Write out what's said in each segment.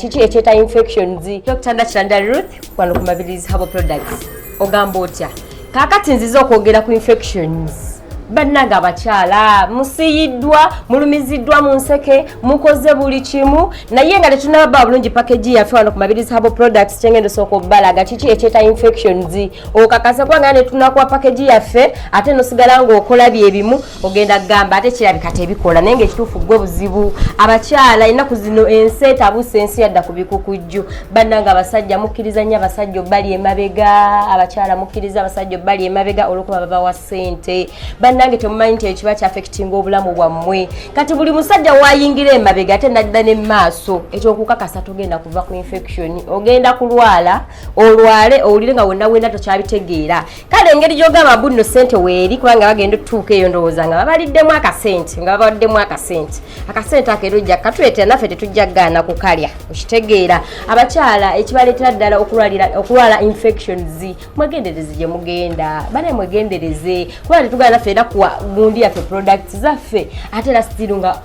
kiki ekyeta infections dr nakiranda ruth wano ku mabirizi habo products ogamba otya kakati nziza okwogera ku infections bannange abakyala musiyiddwa mulumiziddwa mu nseke mukoze buli kimu naye nga tetunaba bulungi pakegi yaffe wano ku mabirizi habo products kyengenda osooka obalaga kiki ekyeta infections okakase kubanga netunakuwa pakegi yaffe ate nosigala ngaokola byebimu ogenda kugamba ate kirabika tebikola naye ngaekituufu gwe buzibu abakyala ennaku zino ensi etabuusa ensi yadda ku bikukujju bannanga abasajja mukkiriza nnyo abasajja obbali emabega abakyala mukkiriza abasajja obbali emabega olwokuba babawa ssente bannange temumanyi nti ekiba kyafekitinga obulamu bwammwe kati buli musajja wayingira emabega ate nadda ne maaso ekyokukakasa togenda kuva ku infection ogenda kulwala olwale owulire nga wonna wenda tokyabitegeera kale engeri gyogamba bunno sente weeri kubanga bagenda otutuuka eyo ndowooza nga babaliddemu akasente nga babaliddemu akasente akasente ako era ojja katuleetera naffe tetujja kugaana kukalya okitegeera abakyala ekibaleetera ddala okulwala infections mwegendereze gye mugenda bana mwegendereze kubanga tetugala naffe era kuwa gundi yaffe products zaffe ate era sitiru nga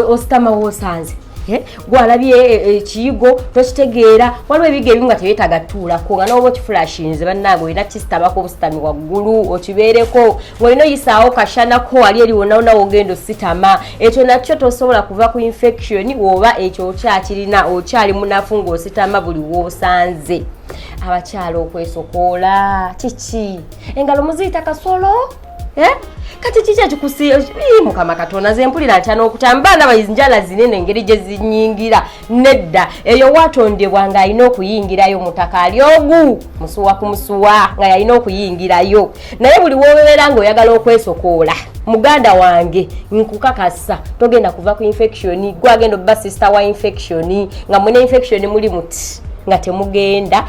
ositama woosanze eh? gwalabye e, e, ekiyigo tokitegeera waliwo ebiga ebimu nga tebyetaaga tuulako nga noba okifulashinze bannange olina kisitabako obusitami waggulu okibeereko ngaolina oyisaawo kashanako wali erionawona wogenda ositama ekyo nakyo tosobola kuva ku infection woba ekyo okyakirina okyali munafu ngaositama buli wosanze abakyala okwesokoola kiki engalo muziyita kasolo Eh? kati kiki ekikusiiyi mukama katonda nze mpulira ntya n'okutamba baana bayizi njala zinene engeri gye zinyingira nedda eyo watondebwa ng'alina okuyingirayo mutaka ali ogu musuwa ku musuwa nga yalina okuyingirayo naye buli wobeera ng'oyagala okwesokoola muganda wange nkukakasa togenda kuva ku infection gwagenda obba sister wa infection nga mune infection muli muti nga temugenda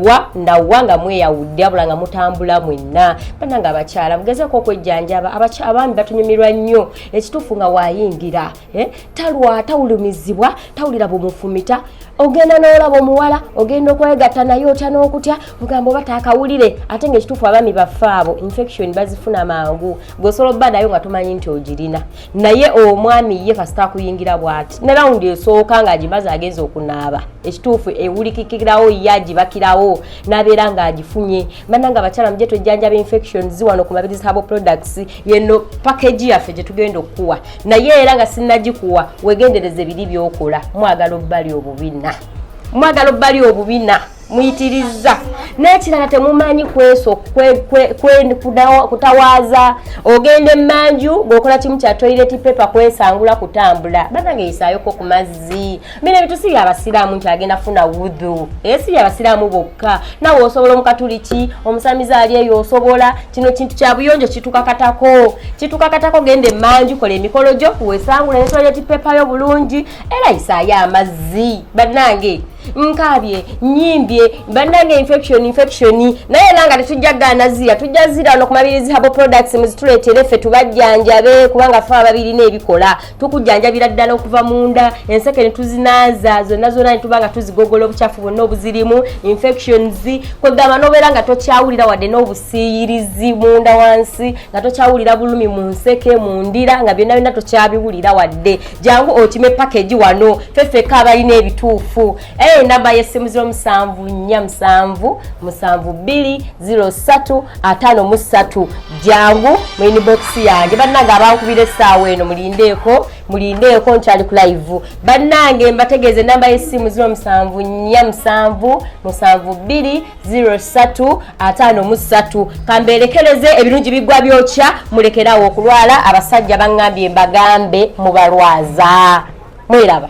wa nawa nga mweyawudde abula nga mutambula mwenna bananga abakyala mugezeko okwejjanjaba abaami batunyumirwa nnyo ekituufu nga wayingira eh, talwa tawulumizibwa tawulira bumufumita ogenda n'olaba omuwala ogenda okwegatta naye otya n'okutya ogamba oba taakawulire ate nga ekituufu abaami baffe abo infection bazifuna mangu gweosobola obba nayo nga tomanyi nti ogirina naye omwami ye kasita akuyingira bwati ne rawundi esooka ng'agimaze agenza okunaaba ekituufu ewulikikirawo ye agibakirawo n'abeera ng'agifunye mana nga abakyala muje twejjanjaba infections wano ku mabiri zabo products yeno package yaffe gye tugenda okukuwa naye era nga sinnagikuwa wegendereza ebiri byokola mwagala obbali obubina mwagala obbali obubina muyitirizza n'ekirala temumanyi kweso kutawaaza ogenda emanju ngaokola kimu kya toilet paper kwesangula kutambula banange yisayoko ku mazzi mina ebintu si byabasiraamu nti agenda funa wudhu naye si byabasiraamu bokka nawe osobola omukatuliki omusamiza ali eyo osobola kino kintu kya buyonjo kitukakatako kitukakatako genda emanju kola emikolo gyo wesangula ne toilet paper yo bulungi era yisayo amazzi banange nkaabye nyimbye bannange infection infection naye era nga tetujja gaana zira tujja zira no kumabirizi habo products muzituleetere ffe tubajjanjabe kubanga fe ababirina ebikola tukujjanjabira ddala okuva munda enseke ne tuzinaaza zonna zonna ne tuba nga tuzigogola obucafu bwonna obuzirimu infections kwegamba nobeera nga tokyawulira wadde n'obusiiyirizi munda wansi nga tokyawulira bulumi mu nseke mu ndira nga byonna byonna tokyabiwulira wadde jangu okime package wano fefeka abalina ebituufu eyo eh, namba yessimu ziro musanvu nnya musanvu musanvu bbiri ziro ssatu ataano mu ssatu jangu mu inibokisi yange bannange abankubira essaawa eno mulindeeko mulindeeko nkyali ku live bannange mbategeeza enamba yessimu ziro musanvu nnya musanvu musanvu bbiri 03 ataano mu ssatu kambeerekereze ebirungi bigwa byokya mulekerawo okulwala abasajja baŋŋambye mbagambe mubalwaza mweraba